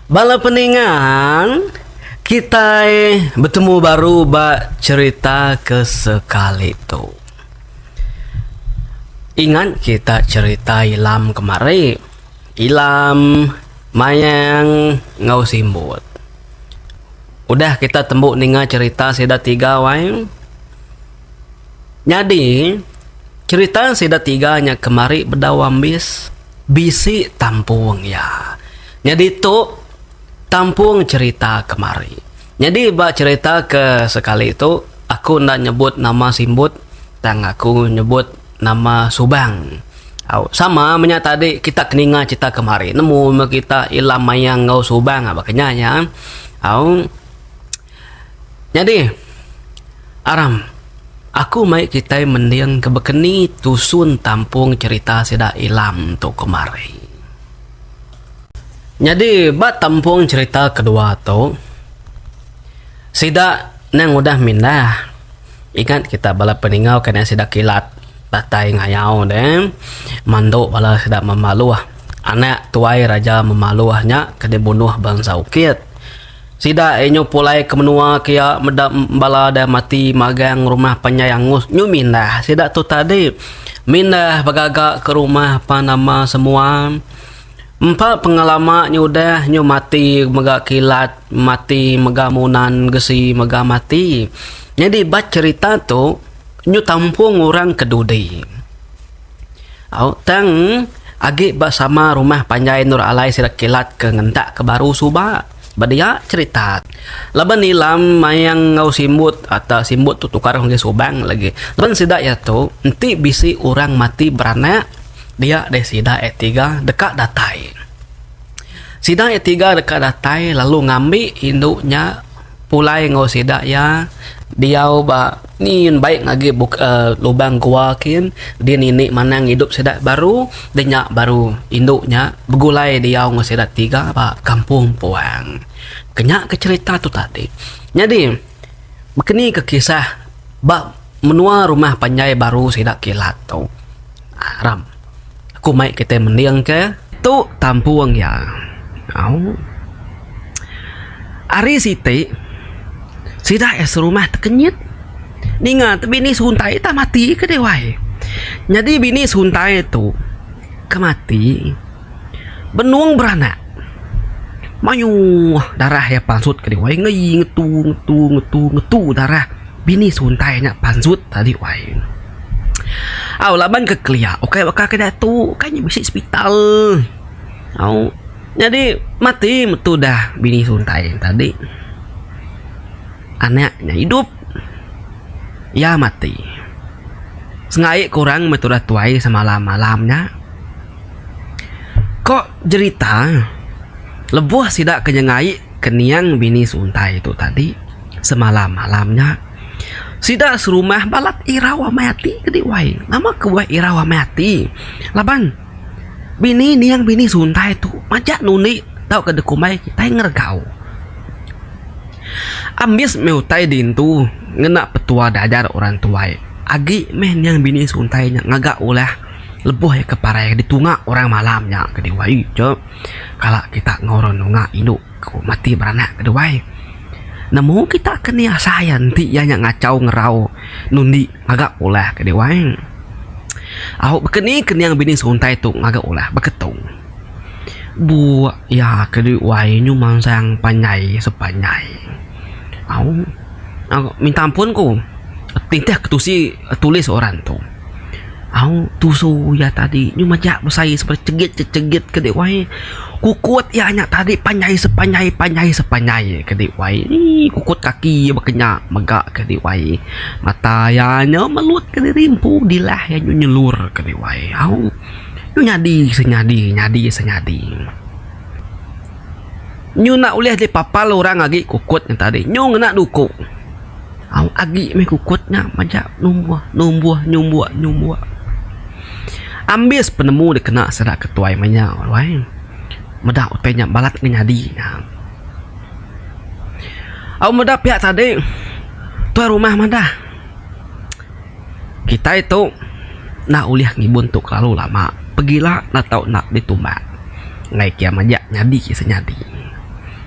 Bala peningang, kitai betemu baru ba cherita ke sekali tu. Ingat kita cherita Ilam kemari. Ilam, Mayang enggau Simbut. Udah kita tembu ninga cherita sida tiga ai. Nyadi, cherita sida tiga nya kemari bedau ambis. Bisi tampung iya. Nyadi tu tampung cherita kemari. Nyadi ba cherita ke sekali tu aku enda nyebut nama simbut tang aku nyebut nama subang. Au sama menya tadi kita ke ninga cherita kemari nemu meh kita ila mayang enggau subang aba kenyah iya. Au. Nyadi, Aram, aku mai kitai mending ke bekeni tusun tampung cherita sida Ilam tu kemari. Nyadi ba tampung cherita kedua tu, sida nang udah mindah, ingat kita bala peningau ke nang sida kilat datai ngayau deh, mandu bala sida Memaluh, anak tuai Raja Memaluh nya ke dibunuh bansa Ukit. Sida inyu pulai ke menua kia meda bala dai mati magang rumah panjai angus nyu mindah sida tu tadi mindah begaga ke rumah pan nama semua empa pengalama nyu udah nyu mati mega kilat mati mega munan gesi mega mati nyadi ba cherita tu nyu tampung orang ke dudi. Au tang agi ba sama rumah panjai endur alai sida kilat ke ngentak ke baru suba. Ba dia cherita laban Ilam mayang enggau Simbut atau Simbut tu tukar ngagai Subang lagi laban sida iya tu enti bisi orang mati beranak dia deh sida iya tiga deka datai. Sida iya tiga deka datai lalu ngambi indu nya. Pulai enggau sida iya diau ba ni yen baik agi buka lubang gua kin dia nini manang idup sida baru da nya baru indu nya begulai diau enggau sida tiga ba kampung puang. Kenya ke cerita tu tadi. Nyadi bekeni ke kisah ba menua rumah panjai baru sida kilat tu. Ram. Aku mai kitai mending ke. Tu tampung iya. Au. Ari siti, sida iya serumah tekenyit. Ninga tu bini suntai tah mati ke deh wai. Nyadi bini suntai tu ke mati benung beranak. Mayuh darah iya pansut ke deh wai. Ngei ngetu ngetu ngetu ngetu darah. Bini suntai nya panjut tadi wai. Au laban ke kelia ukai baka ke diatu kai nya bisi sepital. Au nyadi mati metu dah bini suntai tadi. Anak nya idup iya mati. Sengaie ke orang meh tudah tuai semalam malam nya. Ko jerita lebuh sida ke nyengai. Kenyang bini seuntai tu tadi semalam malam nya sida serumah balat irau amai ati ke di wai. Nama ke buah irau amai ati laban bini niang bini seuntai tu majak nundi tauka dekumbai kitai ngeregau. Ambis meh utai dintu ngena petua diajar orang tuai agi meh niang bini seuntai nya ngaga ulah lebuh iya ke parai ditunga orang malam nya ke di wai. Kala kita ngoro nunga indu ku mati beranak ke duai, nemu kita ke ni asai iya enti iya nya ngachau ngerau nundi ngaga ulah ke duai. Au baka ni keninga bini suntai tu ngaga ulah ba ketung. Buk iya ke duai nyu mansang panjai sepanjai. Au minta ampun ku titih ketusi tulis orang tu. Aung tusu iya tadi nyu majak besai seperai chegit che chegit ke dei wai. Kukut iya nya tadi panjai sepanjai panjai sepanjai ye ke dei wai. Eii kukut kaki iya baka nya mega ke dei wai. Mata iya nya melut ke diri empu dilah iya nya nyelur ke dei wai. Aung nyu nyadi se nyadi nyadi se nyadi. Nyu enda ulih dipapal orang agi kukut nya tadi nyu ngena duku. Au agi meh kukut nya majak numbuh numbuh nyumbuk nyumbuk. Ambis penemu dek kena sida ke tuai manya ruai. Meda utai nya balat ngan nyadi nya. Au meda piak tadi tuai rumah madah kitai tu enda ulih ngibun tu kelalu lama pegila enda tau enda ditumbak ngai kia majak nyadi ke senyadi.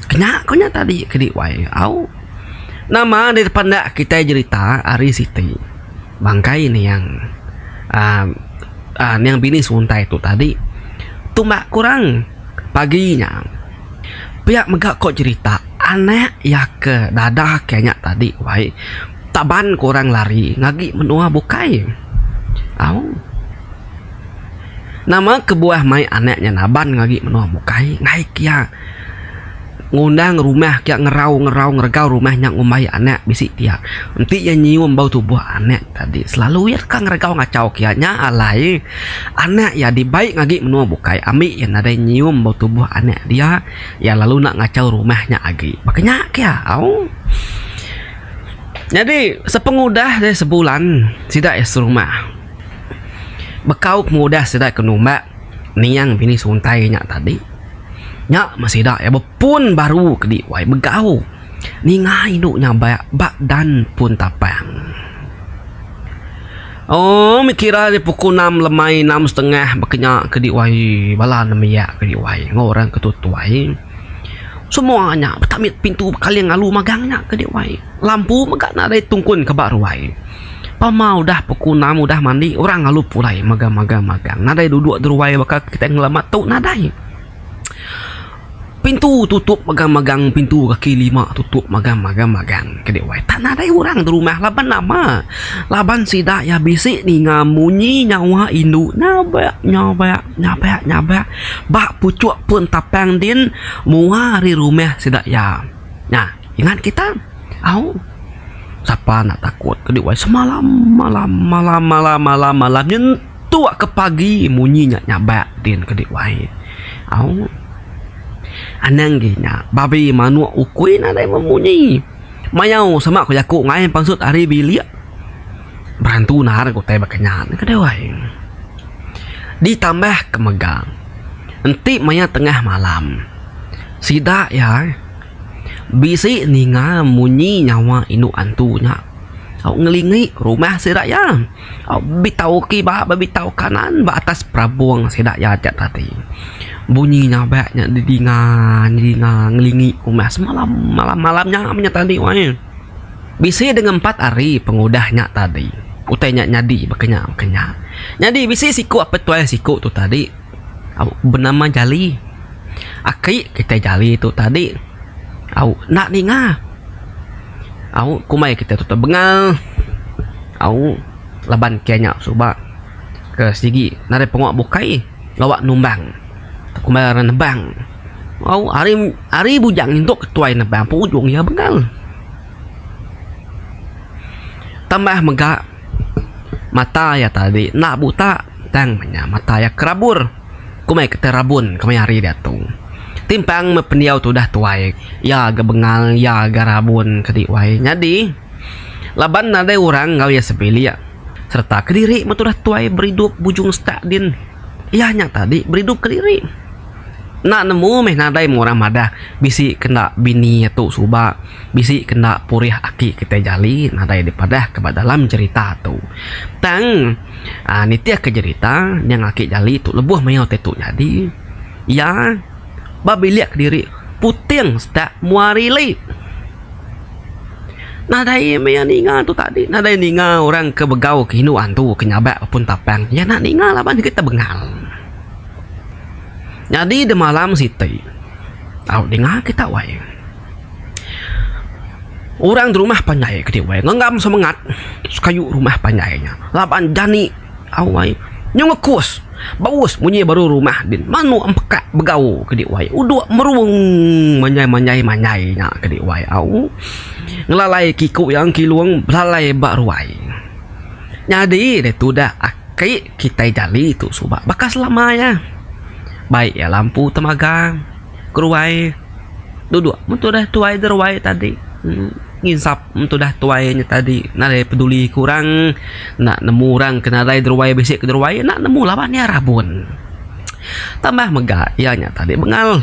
Kenya ko nya tadi kedi wai au. Nama deka panda kitai jerita ari siti bangkai niang aaa niang bini suntai tu tadi tumbak kurang pagi nya pia mega ko jerita anak iya ke dada ke nya tadi wai taban kurang lari ngagi menua bukai au nama kebuah mai anak nya naban ngagi menua bukai ngaik iya. Ngundang rumah kiya ngerau-ngerau ngeregau rumah nya ngumbai anak bisi kiya. Enti iya nyium bau tubuh anak tadi selalu iya deka ngeregau ngachau kiya nya alai anak iya dibai ngagi menua bukai ambi iya nadai nyium bau tubuh anak dia iya lalu enda ngachau rumah nya agi. Ba kinya ke iya au. Nyadi sepengudah deh sebulan sida iya serumah bekau pengudah sida ke numba niang bini suntai nya tadi. Nya meh sida iya bepun baru keli wai begau ninga indu nya ba bak dan pun tapang. Ooh mih kira ari pukul enam lemai enam setengah ba kenya keli wai bala ne mia keli wai enggau orang ke tutuai. Semua nya petamet pintu bekaling alu magang nya keli wai. Lampu mega nadai tungkun ke ba ruai. Pama udah pukul enam udah mandi orang lalu pulai magang magang magang nadai duduk deruai baka kitai ngelama tu nadai. Pintu tutup magang magang pintu kaki lima tutup magang magang magang kadi wai tak nadai orang derumah laban nama laban sida iya bisi ninga munyi nyawa indu nyabak nyabak nyabak nyabak ba puchuk pun tapang din mua ari rumah sida iya. Nya. Ingat kita? Au. Sapa enda takut ke diwai semalam malam malam malam malam malam nyentuk ke pagi munyi nya nyabak din ke diwai. Au. Anang gi nya babi manuk ukui nadai memunyi. Mayau sema ku jaku ngai pansut ari bilik. Berantu nahar ke utai baka nya ke diwai. Ditambah ke mega enti maya tengah malam sida iya. Bisi ninga munyi nyawa indu antu nya. Au ngelingi rumah sida iya. Au betau kiba ba betau kanan ba atas perabung sida iya aja tadi. Bunyi nyabak nya didinga didinga ngelingi rumah semalam malam malam nya nya tadi weh. Bisi dengan empat hari pengudah nya tadi. Utai nya nyadi baka nya baka nya. Nyadi bisi siku apai tuai siku tu tadi. Au benama jali. Aki kitai jali tu tadi. Au enda ninga. Au kumbai kitai tu tebengal. Au laban kitai nya suba ke sigi nadai pengua bukai gawa numbang. Kumbai orang nebang. Au ari ari bujang indu ke tuai nebang pun ujung iya bengal. Tambah mega mata iya tadi enda buta. Tang menya mata iya kerabur. Ku mai ketai rabun kemaya hari diatu. Timpang meh pendiau tu udah tuai, iya ga bengal, iya ga rabun ke di wai. Nyadi, laban nadai orang enggau iya sebilik sereta kediri meh tudah tuai beridup bujung setak din, iya nya tadi beridup kediri. Enda nemu meh nadai meh orang madah bisi ke enda bini iya tu suba, bisi ke enda purih aki kitai jali nadai dipadahka ba dalam cherita tu. Tang. um nitihka jerita nyang ake jali tu lebuh maiow tai tu nyadi ia ba bilik kediri puting setak mua rili nadai maya ninga tu tadi nadai ninga orang ke begau ke inu andu ke nyabak ke pun tapang ia ina ninga laban agi tebengal nyadi demalam siti au dinga kita wai. Orang di rumah panjai ke diweh ngenggam semengat sekayu rumah panjai nya laban jani awai nyau ngekus baus munyi baru rumah din manu empekak begau ke diweh udok merung manjai manjai manjai nya ke diweh au ngelalai ke iku iya engke ilung belalai ba ruai nyadi deh tudah aki kitai jali tu suba baka selama iya baik iya lampu temagang ke ruai. duduk mun tudah tuai deruai tadi uhh nginsap mun tudah tuai nya tadi nadai peduli ku orang enda nemu orang ke nadai deruai bisi ke deruai enda nemu laban iya rabun tambah mega iya nya tadi bengal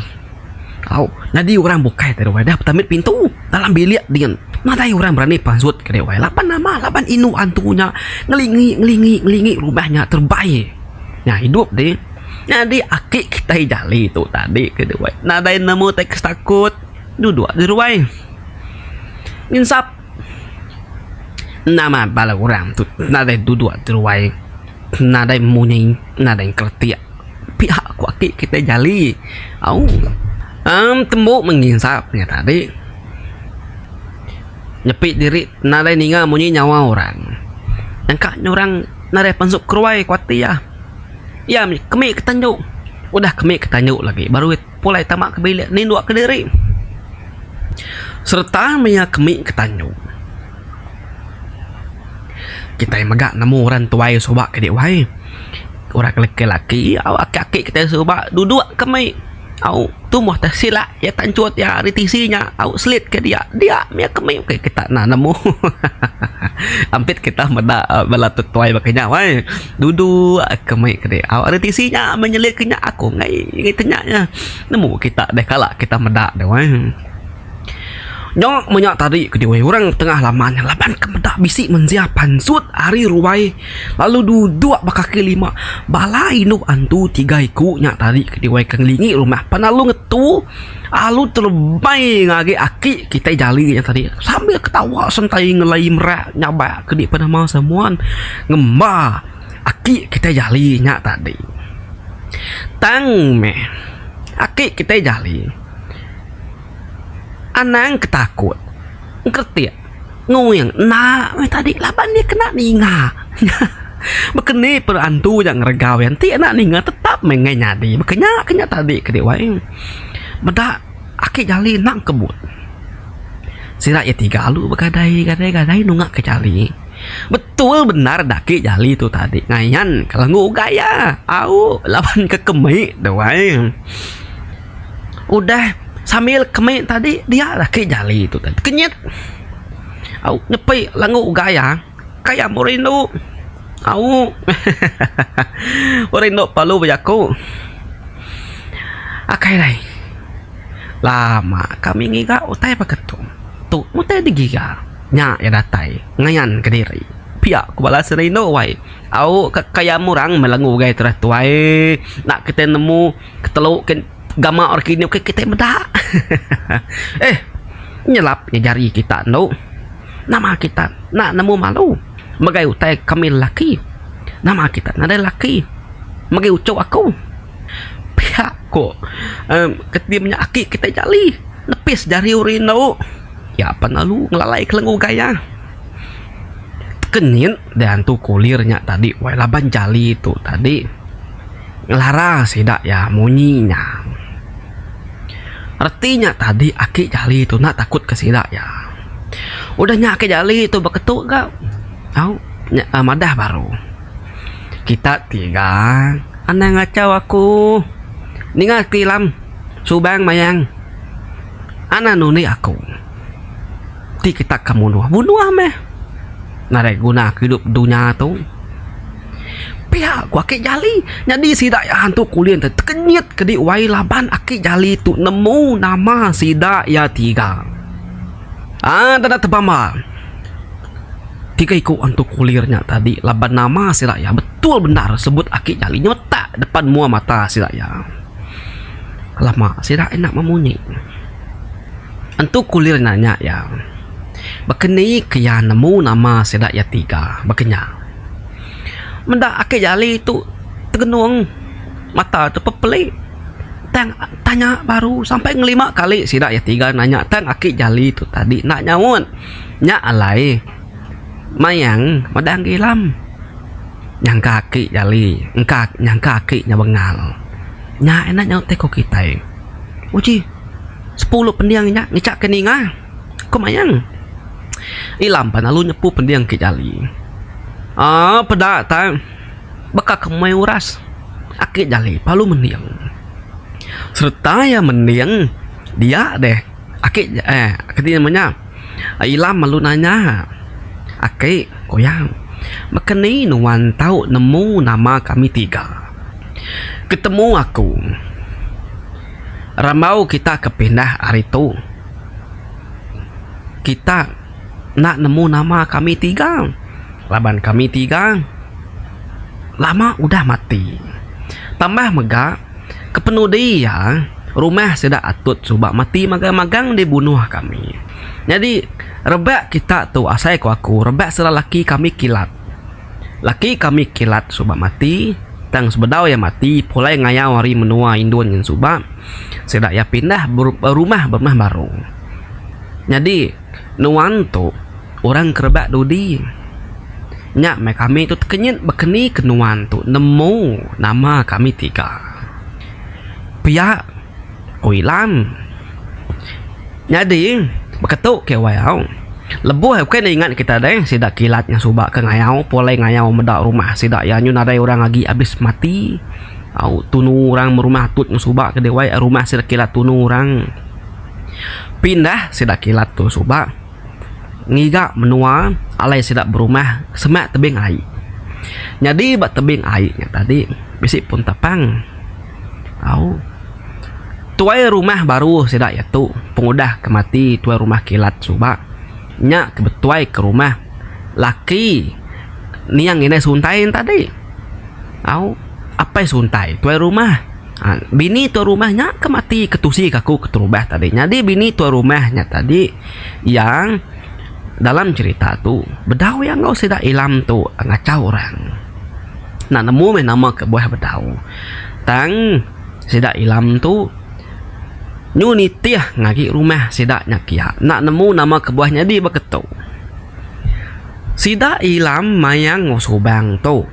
au nyadi orang bukai tau deruai dah temet pintu dalam bilik dingin nadai orang berani pasut ke deruai laban nama laban inu antu nya ngelingi ngelingi ngelingi rumah nya terebai nya idup deh. Nyadi aki kitai jali tu tadi ke duai nadai nemu teks takut duduk di ruai nginsap nama bala orang tu nadai duduk di ruai nadai munyi nadai keletik pihak aku aki kitai jali au am tembu menginsap nya tadi nyepi diri nadai ninga munyi nyawa orang nyangka nya orang nadai pansu ke ruai kuatir. Iya mih, kemi ke tanju. Udah kemi ke tanju lagi baru iya pulai tama ke bilik nindu ke diri. Sereta mih iya kemi ke tanju. Kitai mega nemu orang tuai suba kadi wai. Orang ke laki laki au aki aki kitai suba duduk ke mih au tumbuh te sila iya tanchut iya ari tisi nya au selit ke dia. Dia mih iya ke mih kita enda nemu. Ampit kita meda bala tetuai baka nya wai. Dudu ke mei ke dek awak reti si nya menyelit ke nya aku mei ke nya nya nemu kita deh kala kita meda deh wai. Nyok menya tadi ke deh orang tengah laman laban ke meda bisi mensia pansut ari ruai lalu dudok ba kaki lima bala indu antu tiga iku nya tadi ke deh wai ke ngelingi rumah penalung ngetu. Alu terebai ngagai aki kitai jali nya tadi sambil ketawa sentai ngelai merak nyabak ke di penama semuan ngemba aki kitai jali nya tadi. Tang meh aki kitai jali anang ke takut. engkeretik nguing enda meh tadi laban iya kena ninga baka ni pun antu ja ngeregau iya enti enda ninga tetap meh enggai nyadi baka nya ke nya tadi ke dek wai meda ake jali nang kebut sida iya tiga lalu begadai gadai gadai nunga ke jali betul bendar da ake jali tu tadi ngayan ke lenggu ugai iya au laban ke kemik dek wai udah sambil kami tadi dia lah ke jali tu tadi kenyit au nyepi langu gaya kaya mbuh rindu au hahaha mbuh rindu pelalu bejaku akai alai lama kami ngiga utai baka tu tu utai ti giga nya iya datai ngayan ke diri pia ku bala serindu wai au ka kaya murang meh langu ugai tu dah tuai enda kita nemu. Ketelu ken gama orang kinuh ke kitai meda. eh nyelap nya jari kita endo. Nama kita nak nemu malu megai utai kami lelaki. Nama kita nadai lelaki megi uchup aku. Piak ko uhh ketim nya aki kitai jali nepis jari uri endo. Nya pen lalu ngelalai ke lengu gaya. Teken nyin. diantu kulir nya tadi wai laban jali tu tadi ngelara sida iya munyi nya reti nya tadi aki jali tu enda takut ke sida iya udah nya aki jali tu beketu ga au madah baru kita ti ga anang ngachau aku ninga ti ilam subang mayang anan undi aku. ti kitak ka munuh, munuh meh. Nadai guna ke idup dunya tu. Pia ku aki jali. Nyadi sida iya hantu kulin te tekenyit kedi wai laban aki jali tu nemu nama sida iya tiga. Aa enda deh tebam ba. Tiga iku hantu kulir nya tadi laban nama sida iya betul bendar sebut aki jali nyemetak depan mua mata sida iya. Lama sida enda memunyi. Entu Kulir nanya iya, Baka ni ke iya nemu nama sida iya tiga baka nya? Meda ake jali tu tegenung mata tu pepeli tang tanya baru sampai ngelima kali sida iya tiga nanya tang ake jali tu tadi enda nyaut. Nya alai Mayang Madang Gilam nyangka ake jali nyangka ake nya bengal. Nya ina nyaut teko kitai. Uji. Sepuluh pending nya ngecak ke ninga ku mayang. Ila mban lalu nyepu pending ke jali. Aaa peda tai baka ke meh uras ake jali palu mending. Sereta iya mending dia deh ake eh kadi nama nya ila lalu nanya ake ku iya baka ni nuan tau nemu nama kami tiga. Ketemu aku. rambau kita ke pindah ari tu kita enda nemu nama kami tiga laban kami tiga lama udah mati tambah mega kepenudi iya rumah sida atut suba mati magang magang di bunuh kami nyadi rebak kita tu asai ku aku rebak sida laki kami kilat. Laki kami kilat suba mati, tang sebedau iya mati pulai ngayau ari menua Indun nyin suba, sida iya pindah berumah berumah baru. Nyadi nuan tu orang ke rebak dudi. Nya meh kami tu tekenyit bekenika nuan tu nemu nama kami tiga. Pia. Oi Lang. Nyadi, baka tu KY au. Lebuh ai ukai ne ingat kita deh sida kilat nya suba ke ngayau pulai ngayau meda rumah sida iya nyu nadai orang agi abis mati. Au tunu orang meh rumah tut meh suba ke deh wai rumah sida kilat tunu orang pindah sida kilat tu suba. ngiga menua alai sida berumah semak tebing ai. Nyadi ba tebing ai nya tadi bisi pun tapang. Au tuai rumah baru sida iya tu pengudah ke mati tuai rumah kilat suba nya ke betuai ke rumah laki niang inai suntai nya tadi. Au apai suntai tuai rumah. Bini tuan rumah nya ke mati ketusi ke aku keterubah tadi. Nyadi bini tuan rumah nya tadi yang dalam cerita tu bedau iya enggau sida Ilam tu ngachau orang. Enda nemu meh nama kebuah bedau. Tang sida Ilam tu nyu nitih ngagi rumah sida nya kiya. Enda nemu nama kebuah nyadi baka tu. Sida Ilam mayang enggau Subang tu.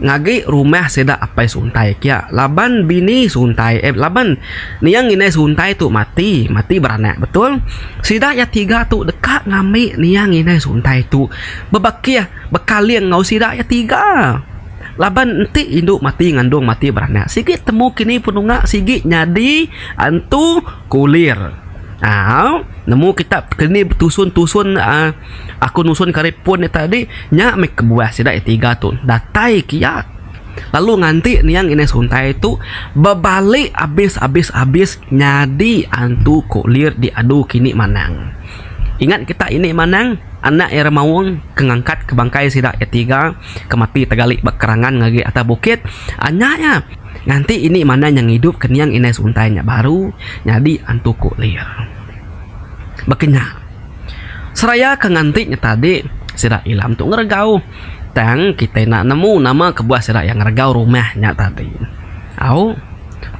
ngagi rumah sida apai suntai kia laban bini suntai eh laban niang indai suntai tu mati mati beranak betul sida iya tiga tu deka ngambi niang indai suntai tu bebakih bekaling enggau sida iya tiga laban enti indu mati ngandung mati beranak sigi temu kini penunga sigi nyadi antu kulir au nemu kitak keni betusun tusun uhh. Aku nusun kari pun nya tadi, nya meh kebuah sida iya tiga tu datai kiat lalu nganti niang inai suntai tu bebali abis abis abis nyadi antu kulir diadu ke ini manang. Ingat kita ini manang anak iya ra maung ke ngangkat ke bangkai sida iya tiga ke mati tegali ba kerangan ngagai atas bukit anya iya nganti ini manang nya ngidup ke niang inai suntai nya baru nyadi antu kulir. Baka nya. Seraya ke nganti nya tadi, sida Ilam tu ngeregau. Tang kitai enda nemu nama kebuah sida iya ngeregau rumah nya tadi. Au,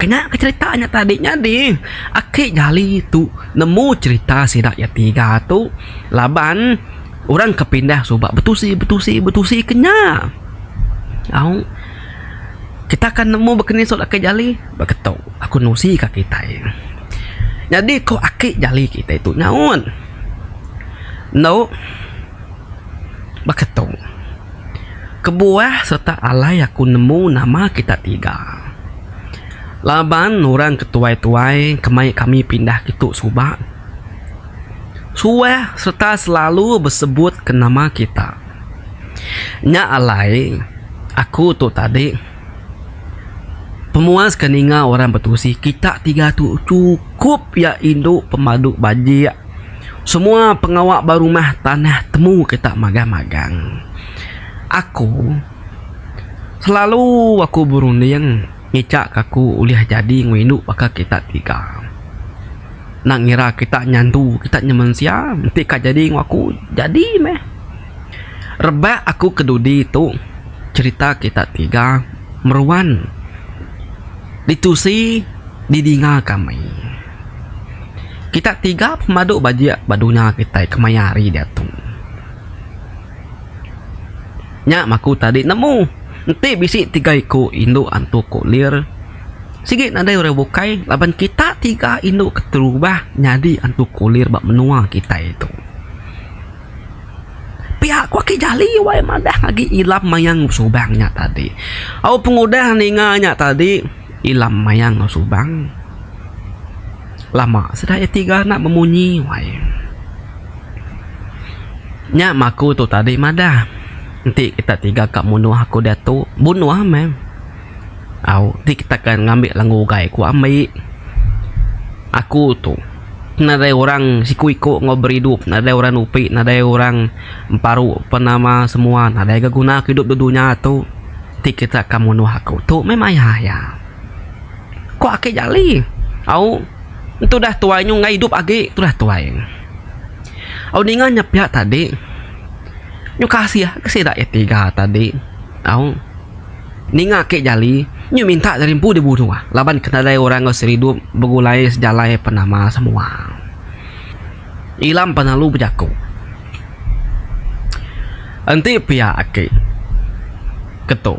kena ke cherita nya tadi nyadi aki jali tu nemu cherita sida iya tiga tu laban orang ke pindah suba betusi betusi betusi ke nya. Au, kita akan nemu baka ni sut aki jali. Ba ke tu aku nusi ka kitai. Nyadi ko aki jali kitai tu nyaut. Endo ba ke tu kebuah serta alai aku nemu nama kita tiga. Laban orang ke tuai-tuai ke mai kami pindah ke tu suba suah serta selalu besebut ke nama kita. Nya alai aku tu tadi. Pemuas ke ninga orang betusi kita tiga tu chukup iya indu pemadu bajik semua pengawa ba rumah tanah temu kita magang magang. Aku selalu aku berunding ngicha ka aku ulih jadi enggau indu baka kita tiga. Nak ngira kita nyandu kita nya mensia enti ka jadi enggau aku jadi meh. Rebak aku kedudi tu cerita kita tiga meruan ditusi didinga kami. Kita tiga pemadu bajik ba dunya kitai kemaya hari diatu. Nya mah aku tadi nemu enti bisi tiga iku indu antu kulir sigi nadai orang bukai laban kita tiga indu keterubah nyadi antu kulir ba menua kitai tu. Pia ku aki jali wai madah agi ilam mayang subang nya tadi. Au pengudah ninga nya tadi ilam mayang subang lama sida iya tiga enda bemunyi wai. Nya meh aku tu tadi madah enti kita tiga ka munuh aku diatu bunuh meh. Au ti kita ke ngambi lenga ugai ku ambi aku tu. Nadai orang siku-iku enggau beridup, nadai orang nupi, nadai orang emparu pen nama semua nadai ga guna aku idup da dunya tu ti kita ka munuh aku tu meh maya iya. Ku ake Jali. Au entu dah tuai nyu enggai idup agi tu dah tuai. Au ninga nya pia tadi nyu kasih ke sida iya tiga tadi. Aung. Ninga ke jali, nyu minta dari empu di bunuh laban ke nadai orang enggau seridup begulai sejalai penama semua. Ilam penalu bejaku. Enti pia aki. Ketu.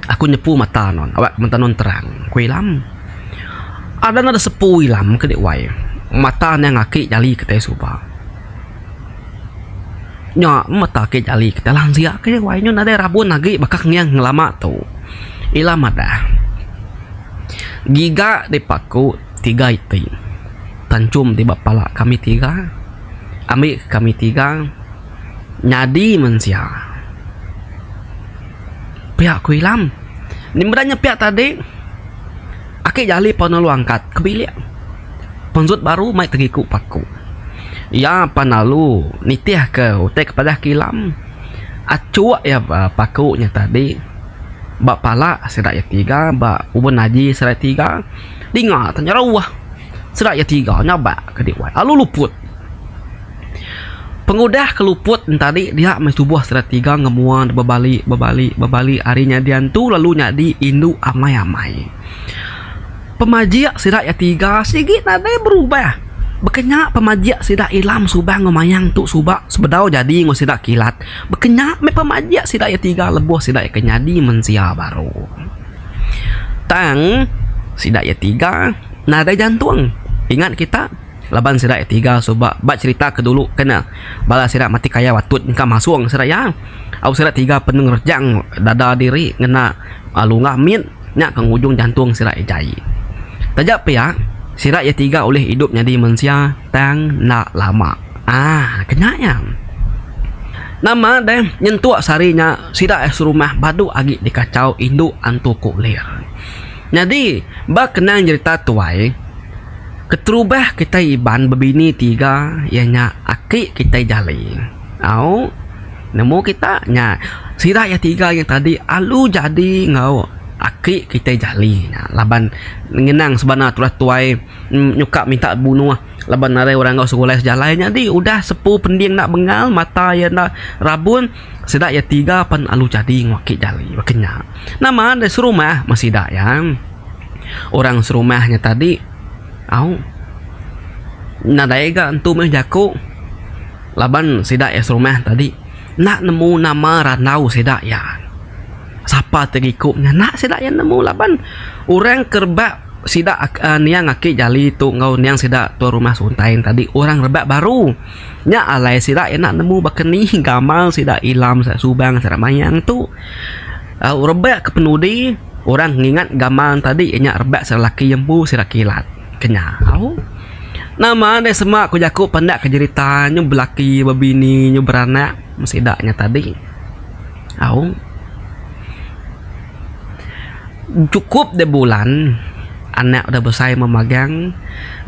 Aku nyepu mata non awak mata non terang, ku Ilam. Adan ada sepu Ilam ke dek wai. Mata niang aki jali kitai suba. Nya meh agi jali ke talang sia ke dia wai nyun nadai rabun agi baka nginang ngelama tu. Ila madah giga di paku tiga iti tanchum ti ba pala kami tiga ambi kami tiga nyadi men sia. Pia ku Ilam, meda nya pia tadi. Aki Jali pan lalu angkat ke bilik. Penjut baru mai tegiku paku. Iya pan lalu nitihka utai ke padah ke ilam. Achuk iya ba paku nya tadi. Ba pala sida iya tiga ba ubun aji sida iya tiga dinga tau nyerauh. Sida iya tiga nyabak ke diwai lalu luput. Pengudah ke luput entadi dia meh tubuh sida tiga enggau mua dep bebali bebali bebali ari nyadi antu lalu nyadi indu amai amai. Pemajik sida iya tiga sigi nadai berubah baka nya pemajik sida Ilam Subang enggau Mayang tu suba sebedau jadi enggau sida kilat baka nya meh pemajik sida iya tiga lebuh sida ika nyadi mensia baru. Tang sida iya tiga nadai jantung ingat kita. Laban sida iya tiga suba ba cherita ke dulu kena bala sida mati kaya watut engka masong sida iya. Au sida tiga penu ngerejang dada diri ngena lungah mit nya ke ngujung jantung sida iya jai. Taja pia, sida iya tiga ulih idup nyadi mensia tang enda lama. Aaa kena iya. Nama deh nyentuk sehari nya sida iya serumah badu agi dikachau indu Antu Kok Ler. Nyadi, ba kenang jerita tuai, keterubah kitai Iban bebini tiga iya nya aki kitai Jali. Au nemu kita nya sida iya tiga nya tadi alu jadi enggau aki kitai Jali nya laban ngenang sebana tulah tuai nyuka minta bunuh laban arai orang enggau sekolah sejalai nyadi udah sepu pending enda bengal mata iya enda rabun. Sida iya tiga pen alu jadi enggau aki jali baka nya. Nama deh serumah meh sida iya. Orang serumah nya tadi au nadai ga entu meh jaku laban sida iya serumah tadi enda nemu nama randau sida iya. Sapa ti iku nya enda sida iya nemu laban orang ke rebak sida aaa niang aki jali tu enggau niang sida tuan rumah Suntain tadi orang rebak baru. Nya alai sida enda nemu baka ni gamal sida Ilam sida Subang sida Mayang tu. Au rebak ke penudi orang ngingat gamal tadi nya rebak sida laki empu sida kilat ke nya. Au nama deh sema ku jaku penda ke jerita nyau belaki bebini nyau beranak meh sida nya tadi. Au. Chukup dibulan anak udah besai meh magang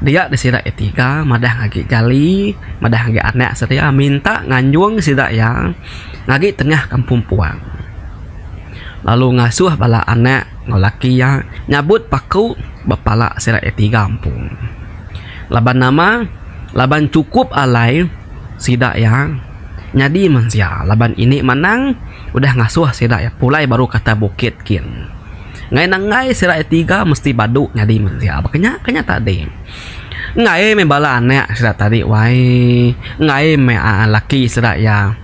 dia disida iya tiga madah nya agi jali madah agi anak sedia minta nganjung sida iya ngagi tengah kampung puang lalu ngasuh bala anak enggau laki iya nyabut paku ba pala sida iya tiga empu laban nama laban chukup alai sida iya nyadi mensia laban ini manang. Udah ngasuh sida iya pulai baru kata bukit kin. Ngai nenggai sida iya tiga mesti badu nyadi mensia baka nya ka nya tadi. Ngai meh bala anak sida tadi wai. Ngai meh aaa laki sida iya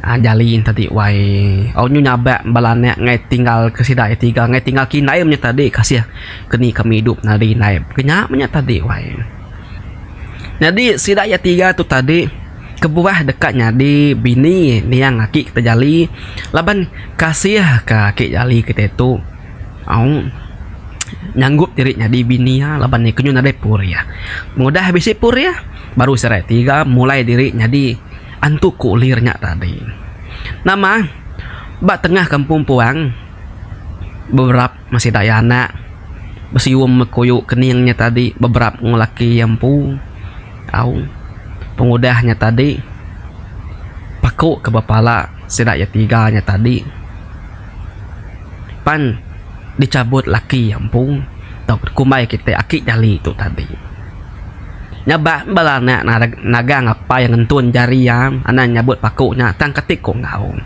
aaa jalin tadi wai. Au nyu nyabak bala anak ngai tinggal ke sida iya tiga ngai tinggal ke indai meh nya tadi kasih ke ni kami idup nadi indai. Baka nya meh nya tadi wai. Nyadi sida iya tiga tu tadi. kebuah deka nyadi bini niang aki kita jali laban kasih ka aki jali kita tu aung nyanggup diri nyadi bini iya laban iya kenyuh nadai pur iya pengudah bisi pur iya baru serai tiga mulai diri nyadi antu kulir nya tadi nama ba tengah kampung puang beberapa Masih daya anak besium mekuyu kening nya tadi beberap enggau laki iya empu au pengudah nya tadi paku ke bepala sida iya tiga nya tadi pan dichabut laki iya empu tau dikumbai kitai aki jali tu tadi. Nya ba en bala anak nagang apai ngentun jari iya anang nyabut paku nya tang kati ku enggau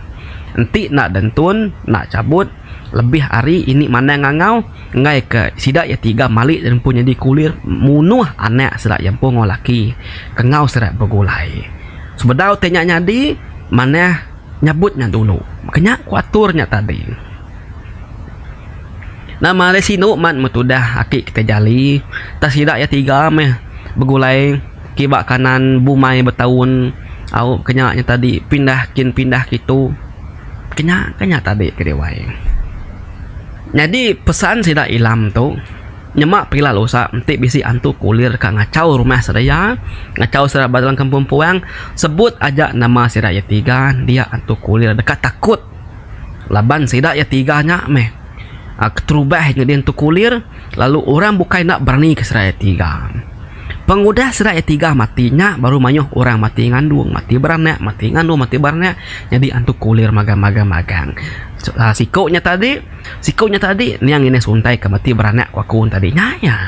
enti enda dentun enda chabut. lebih ari ini manang ngangau enggai ke sida iya tiga mali ti empu nyadi kulir munuh anak sida iya empu enggau laki kengau sida begulai sebedau te nya nyadi manah nyebut nya dulu ke nya ku atur nya tadi nama ari sinu man me tudah aki kita jali tak sida iya tiga meh begulai Kiba kanan bumai betaun aup ke nya tadi pindah kin pindah kitu ke nya ke nya tadi ke diwai. Nyadi pesan sida Ilam tu nyema pila lusa enti bisi antu kulir ka ngachau rumah sedia ngachau sida ba dalam kampung puang sebut aja nama sida iya tiga dia antu kulir deka takut laban sida iya tiga nya meh keterubah nyadi antu kulir lalu orang bukai enda berani ke sida iya tiga. Pengudah sida iya tiga mati nya baru mayuh orang mati ngandung, mati beranak, mati ngandung, mati beranak nyadi antu kulir magang magang magang. Siku nya tadi, siku nya tadi niang ngini suntai ke mati beranak ku aku tadi nya iya.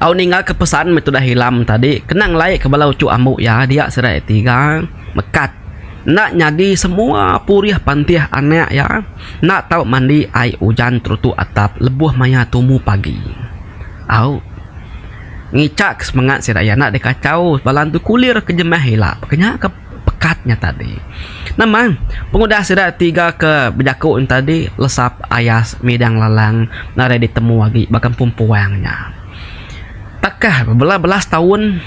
Au ninggalka pesan meh tudah ilam tadi kena ngelaika bala uchu ambu iya dia sida iya tiga mekat enda nyadi semua purih pantih anak iya enda tau mandi ai ujan terutu atap lebuh maya tumu pagi. Au. Ngichak semengat sida iya enda dikachau bala entu kulir ke jemah ila peka nya ke pekat nya tadi. Nemang, pengudah sida tiga ke bejaku nya tadi lesap ayas midang lalang nadai ditemu agi ba kampung puang nya. Takah bela-bela setaun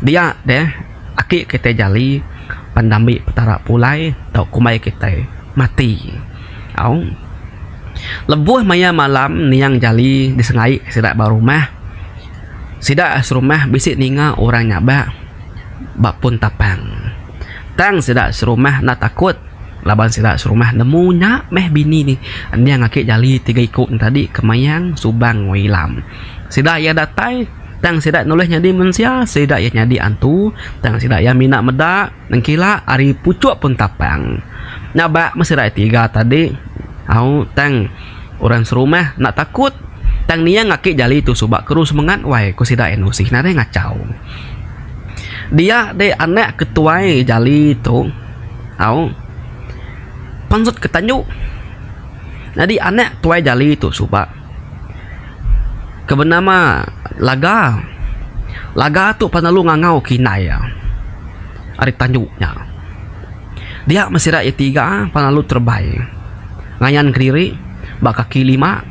dia deh. Aki kitai Jali pan dambi Petara pulai tau kumbai kitai mati. Au. Lebuh maya malam niang Jali disengai sida ba rumah. Sida serumah bisi ninga orang nyaba ba pun tapang. Tang sida serumah enda takut laban sida serumah nemu nya meh bini niang Aki Jali tiga iku nya tadi ke mayang Subang enggau Ilam. Sida iya datai. Tang sida nulih nyadi mensia, sida iya nyadi antu. Tang sida iya mina meda, nengkila ari puchuk pun tapang. Nya ba meh sida iya tiga tadi. Au, tang orang serumah enda takut. Tang niang aki jali tu suba keru semengat wai, ku sida iya nusih nadai ngachau. Dia deh anak ke tuai jali tu, au, pansut ke tandu. Nyadi anak tuai jali tu suba. Ke benama laga. Laga tu pan lalu ngangau kinak iya ari tandu nya. Dia meh sida iya tiga pan lalu terebai ngayan kediri ba kaki lima.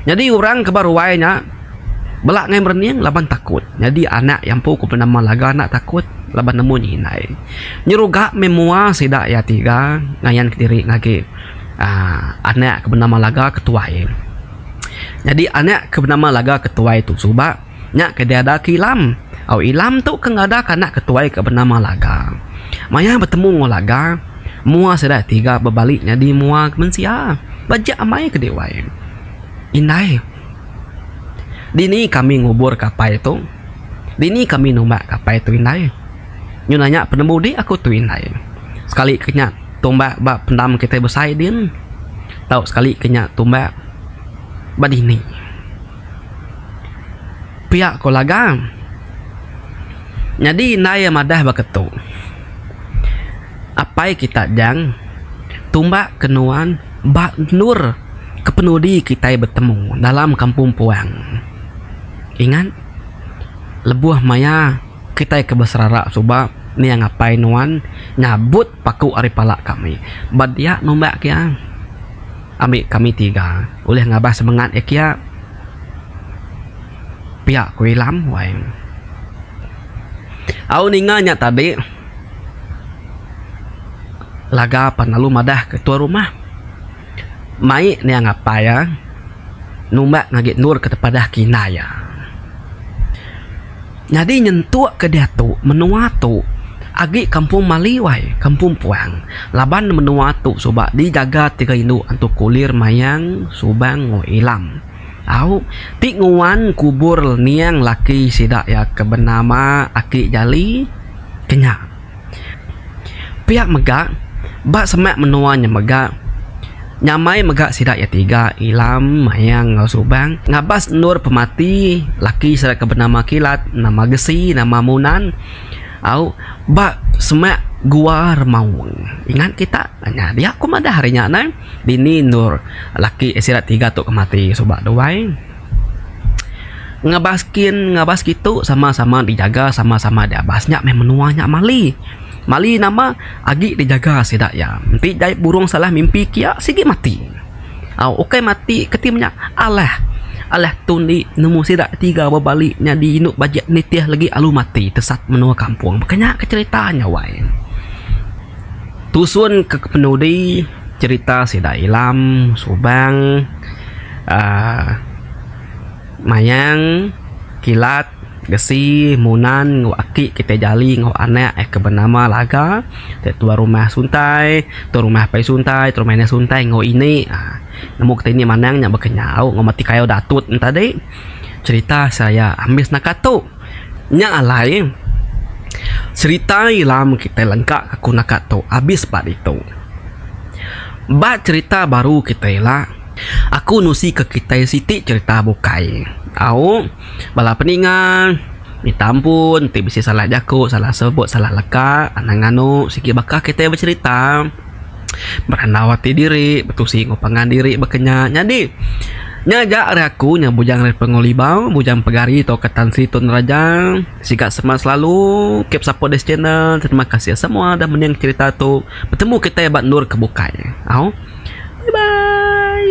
Nyadi orang ke ba ruai nya bela ngai merening laban takut. Nyadi anak iya empu ku nama laga enda takut laban nemu nya indai. Nyeruga meh mua sida iya tiga ngayan kediri ngagai. anak ke benama laga ke tuai. Nyadi anak ke benama laga ke tuai tu suba nya ke diada ke ilam. Au ilam tu ke ngada ke anak ke tuai ke benama laga. Maya betemu enggau laga mua sida tiga bebali nyadi mua ke mensia. Bejek amai ke dih wai. Indai dini kami ngubur ke apai tu. Dini kami numba ke apai tu indai. Nyun nya penemudi aku tu indai. Sekali ke nya. tumbak ba pendam kitai besai din tau sekali ke nya tumbak ba dini pia ko laga nyadi indai iya madah baka tu apai kita jang tumbak ke nuan ba endur kepenudi kitai betemu dalam kampung puang ingat lebuh maya kitai ke beserara suba niang apai nuan nyabut Paku ari pala kami. Ba dia numbak kia. Ambi kami tiga ulih ngabas semengat iya kia. Pia ku Ilam wai. Au ninga nya tadi laga pan lalu madah ke tuan rumah. Mai nya ngapai iya numba ngagai endur ke tepadah kina iya. Nyadi nyentuk ke diatu menua tu agi kampung Maliu ai, kampung Puang. Laban ne menua tu suba digaga tiga indu antu Kulir, Mayang, Subang enggau Ilam. Au ti nguan kubur niang laki sida iya ke benama Aki Jali ke nya. Pia mega, ba semak menua nya mega, nyamai mega sida iya tiga, Ilam, Mayang enggau Subang, ngabas endur pemati laki sida ke benama Kilat, nama Gesi, nama Munan au ba semak Gua Remaung. Ingat kita nya dia ku madah ari nya neh, dini endur laki sida tiga tu ke mati suba duai. Ngabas skin ngabas kitu sama-sama dijaga sama-sama diabas nya meh menua nya mali. Mali nama agi dijaga sida iya. Enti jai burung salah mimpi kia sigi mati. Au ukai mati keti manya alah alah tu indi nemu sida tiga ba bali nyadi indu bajik nitih lagi alu mati tesat menua kampung. Baka nya ke cerita nya wai. Tusun ke kepenudi cerita sida ilam subang aaa mayang kilat gesi munan enggau aki kitai jali enggau anak iya ke benama laga tai tuai rumah suntai tuai rumah pai suntai tuai rumah inah suntai enggau ini aaa nemu kitai ini manang nya baka nyau enggau mati kayu Datuk nya tadi cerita saya ambis naka tu. Nya alai, serita ila mun kitai lengka ka ku naka tu abis ba ditu. Ba cherita baru kitai ila, aku nusi ka kitai siti cherita bukai. Au, bala peninga, minta ampun ti bisi salah jaku, salah sebut, salah leka, anang anu sigi baka kitai becherita. Berandau ati diri, betusi enggau pangan diri baka nya. Nyadi, nya aja ari aku nya Bujang Ripper enggau Libau, Bujang Pegari tauka Tan Sri Tun Raja. Siga semak selalu. Keep support this channel. Terima kasih semua dah mening cherita tu. Betemu kitai ba endur ke bukai. Au. Bye bye.